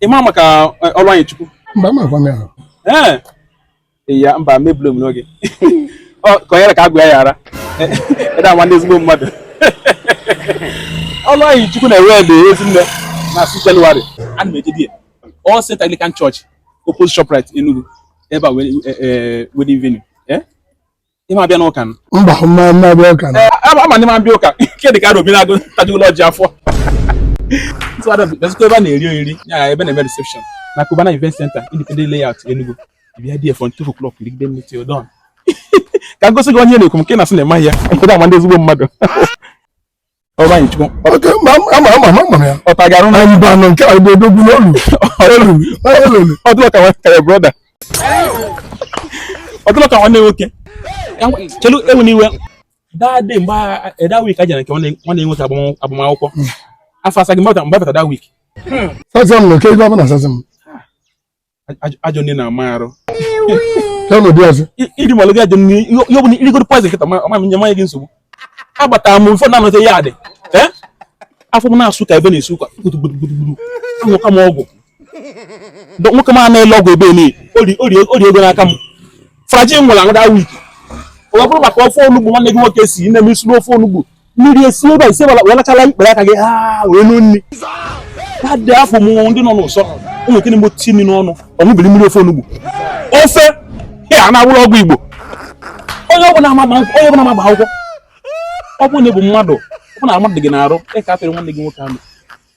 ị ma maka eh, ọrụ anyị chukwu mba ma gwa m ya ee eh, ya mba mebiri m n'oge ka onye ka agwa ya yara ịda eh, nwa ndị ezigbo mmadụ ọrụ anyị chukwu na-ewed Ezinne na six January ana m eje di ya All Saints anglican church opposite shoprite enugu ebe a wedding venue ị ma abịa n'ụka m mba m ma abịa ụka ama m na ị ma abịa ụka nke dị ka Arobinagụ tajugolo ọjị afọ Ntụ ada bụ- bịazikwa ebe a na-eri oriri ya ya ebe na-eme reception na Cubana Event Center Independent Layout Enugu we are there from two o'clock rigide nri till dawn ka m gosi gị onye na-ekwu m nke na-asị na ịmaghị ya nke na-ama ndị ezigbo mmadụ ọ dị ka nwanne nwoke chelu ewe m iwe that day mgbe that week a jere nke nwanne nwoke agbamakwụkwọ afọ asaghị m about that week sasaa m na oke ibe abụ na sasaa m ajọ nri na-ama arụ iri malụ gị ajọ nri ihe ọ bụla i rigoro poison kịta ma nye manye gị nsogbu agbatara m ụfọdụ na-anọte ya adị afọ m na-asụ ka ebe na-esi ụkwa gburugburu aṅụka m ọgwụ nwoke m na-ele ọgwụ ebe a o rie ego n'aka m flagyl m were ṅụọ that week ọ bụrụ maka ofe onugbu nwanne gị nwoke si na m siri ofe onugbu mmiri esi ebe a ise wee lachala ikpere aka gị ha wee nụ nri ha dị afọ mụ ndị nọ n'ụsọ ụmụ nke na-egbo ti nri n'ọnụ ọ ṅụbiri mmiri ofe onugbu ofe ya a na-awụrụ ọgwụ igbo onye ọbụla ama akwụkwọ ọ bụrụ na ị bụ mmadụ ọ bụrụ na mmadụ gị n'arụ ị ka-atụrụ nwanne gị nwoke anụ